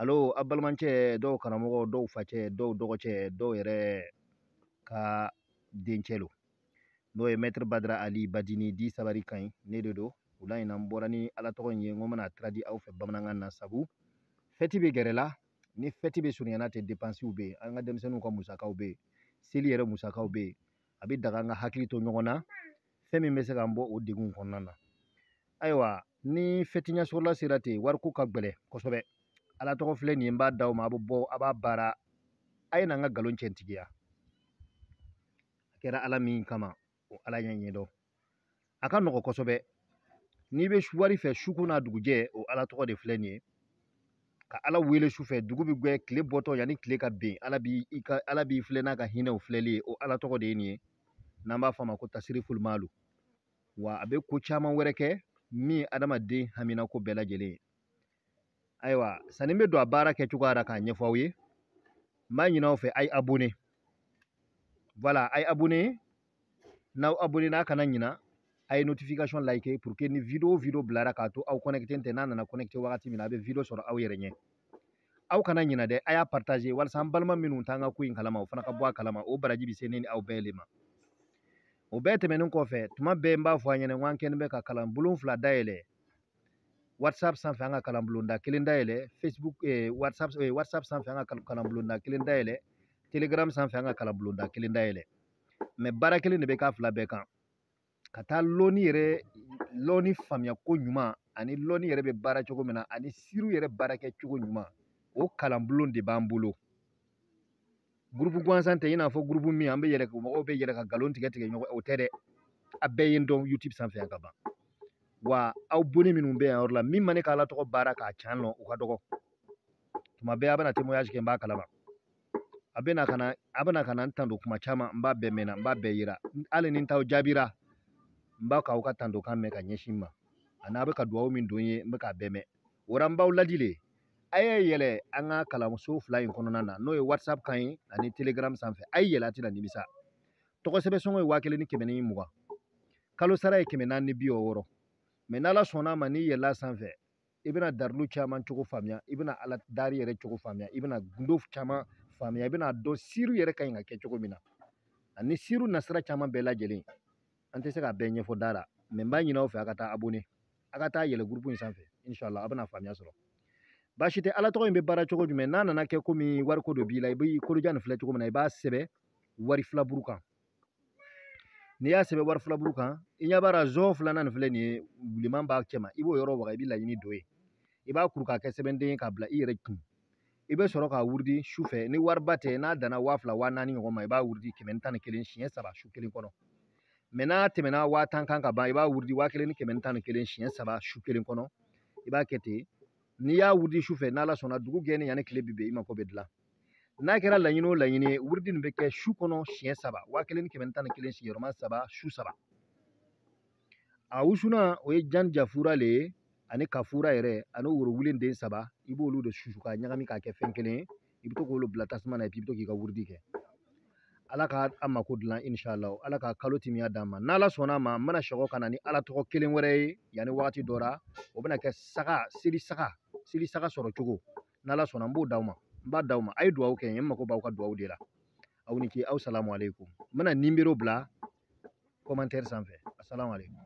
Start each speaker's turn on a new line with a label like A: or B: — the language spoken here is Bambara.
A: alo a balimacɛ dɔw karamɔgɔ dɔw facɛ dɔw dɔgɔcɛ dɔw yɛrɛ ka dencɛ lo n'o ye mɛtiri badara ali badini di sabari ka ɲi ne de don wula in na n bɔra ni ala tɔgɔ in ye n ko n bɛna tiradi aw fɛ bamanankan na sabu fɛti bɛ gɛrɛ la ni fɛti bɛ surunyana ten depansiw bɛ yen an ka denmisɛnninw ka musakaw bɛ yen seli yɛrɛ musakaw bɛ yen a bɛ daga an ka hakili to ɲɔgɔn na fɛn min bɛ se k'an bɔ o degun kɔnɔna na ayiwa ni fɛti ɲɛsɔrɔla sera ten wariko ka gɛlɛn kosɛbɛ ala tɔgɔ filɛ nin ye n b'a d'aw ma a bɛ bɔ a b'a baara a ye na n ka nkalon cɛntigiya a kɛra ala min kama o ala ɲɛ ɲɛdɔn a ka nɔgɔ kosɛbɛ n'i bɛ wari fɛ su ko n'a dugujɛ o ala tɔgɔ de filɛ nin ye ka ala wele su fɛ dugu bɛ gɛ tile bɔtɔ yanni tile ka ben ala b'i ka ala b'i filɛ n'a ka hinɛw filɛli ye o ala tɔgɔ de ye nin ye n'an b'a fɔ a ma ko tasirifulu malu wa a bɛ ko caman wɛrɛ kɛ min ye adamaden haminako bɛɛ lajɛlen ye ayiwa sanni n bɛ don a baara kɛcogoya la k'a ɲɛfɔ aw ye n b'a ɲini aw fɛ a ye abone voilà a ye abone n'aw abonena a kana ɲina a ye notification like pour que ni video o video bilara k'a to aw connecté tɛ n'a nana connecté wagati min na a bɛ video sɔrɔ aw yɛrɛ ɲɛ aw kana ɲina dɛ a y'a partager walasa an balima minnu t'an ka ko in kalama o fana ka bɔ a kalama o baraji bɛ se ne ni aw bɛɛ le ma o bɛɛ tɛmɛnen kɔfɛ tuma bɛɛ n b'a fɔ a ɲɛna ko an kɛlen bɛ ka kalan bulon fila dayɛlɛ whatsapp sanfɛ an ka kalan bulonda kelen dayɛlɛ facebook eh, whatsapp eh, whatsapp sanfɛ an ka kalan bulonda kelen dayɛlɛ telegram sanfɛ an ka kalan bulonda kelen dayɛlɛ mɛ baara kelen de bɛ k'a fila bɛɛ kan ka taa lɔni yɛrɛ lɔni faamuya ko ɲuman ani lɔni yɛrɛ bɛ baara cogo min na ani siriw yɛrɛ baara kɛ cogo ɲuman o kalanbulon de b'an bolo gurupu gansan tɛ i n'a fɔ gurupu min an bɛ yɛlɛ mɔgɔw bɛ yɛlɛ ka nkalon tigɛ tigɛ ɲɔgɔn o tɛ dɛ a bɛɛ ye n dɔn youtube sanfɛ yan ka ban wa abone minnu bɛ yan yɔrɔ la min ma ne ka ala tɔgɔ baara k'a can lɔn o ka dɔgɔ tuma bɛɛ a bɛna témoignage kɛ n b'a kalama a bɛna ka na a bɛna ka na n tando kuma caman n b'a bɛɛ mɛnna n b'a bɛɛ yera hali ni n t'aw jaabira n bɛ k'aw ka tandokan mɛn ka ɲɛsin n ma ani a bɛ ka dugawu min don n ye n bɛ k'a bɛɛ mɛn o la n b'aw ladi le a ye yɛlɛ an ka kalanso fila in kɔnɔna na n'o ye whatsapp kan ye ani telegram sanfɛ a ye yɛlɛ a tɛna nimisa tɔgɔ sɛbɛn sɔngɔ ye waa kelen ni kɛmɛ ni mugan kalo sara ye kɛmɛ naani ni bi wɔɔrɔ mɛ n'ala sɔnna a ma n'i yɛlɛla sanfɛ i bɛna darilu caman cogo faamuya i bɛna ala dari yɛrɛ cogo faamuya i bɛna gundo caman faamuya i bɛna dɔn siriw yɛrɛ ka ɲi ka kɛ cogo min na ani siriw nasira caman bɛɛ lajɛlen an tɛ se k'a bɛɛ ɲɛfɔ da la mɛ n b'a ɲini aw fɛ a ka taa abone a ka taa yɛlɛ gurupu in sanfɛ inshallah a bɛna faamuya sɔrɔ baasi tɛ ala tɔgɔ in bɛ baara cogo jumɛn n'a nana kɛ komi wariko dɔ b'i la i bɛ kolojan nin filɛ cogo min na i b'a sɛbɛn wari filaburu kan n'i y'a sɛbɛn wari filaburu kan i ɲɛ b'a la zon filanan nin filɛ nin ye bilenman b'a cɛma i b'o yɔrɔ waga i bɛ laɲini don ye i b'a kuru k'a kɛ sɛbɛnden ye k'a bila i yɛrɛ kun i bɛ sɔrɔ k'a wurudi su fɛ ni wariba tɛ n'a danna waa fila waa naani ɲɔgɔn ma i b'a wurudi kɛmɛ ni tan ni kelen siɲɛ saba su kelen kɔnɔ mɛ n'a tɛmɛna waa tan kan ka ban i b'a wurudi waa kelen ni kɛmɛ ni tan ni kelen siɲɛ saba su kelen kɔnɔ i b'a kɛ ten n'i y'a wurudi su fɛ n'ala sɔnna dugu gɛnni yanni tile bi bɛn i mako bɛ dilan n'a kɛra laɲini o laɲini ye wurudi nin bɛ kɛ su kɔnɔ siɲɛ saba waa kelen ni kɛmɛ tan ni kelen sigiyɔrɔma saba su saba a wusulan o ye jan jafura le ye ani kafura yɛrɛ ani worowulen den saba i b'olu de susu k'a ɲagami k'a kɛ fɛn kelen ye i bɛ to k'olu bila tasuma na i bɛ to k'i ka wurudi kɛ ala ka an mako dilan inshala ala ka kalo timiya d'an ma n'ala sɔnna a ma n bɛna sekɔ ka na ni ala tɔgɔ kelen wɛrɛ ye yanni wagati dɔ la o bɛna kɛ saga seli saga seli saga sɔrɔ cogo n'ala sɔnna n b'o d'aw ma n b'a d'aw ma a ye duwawu kɛ n ye n mako b'aw ka duwawu de la aw ni ce aw salamu aleykum n bɛna nimero bila kɔmantɛri sanfɛ asalamu aleykum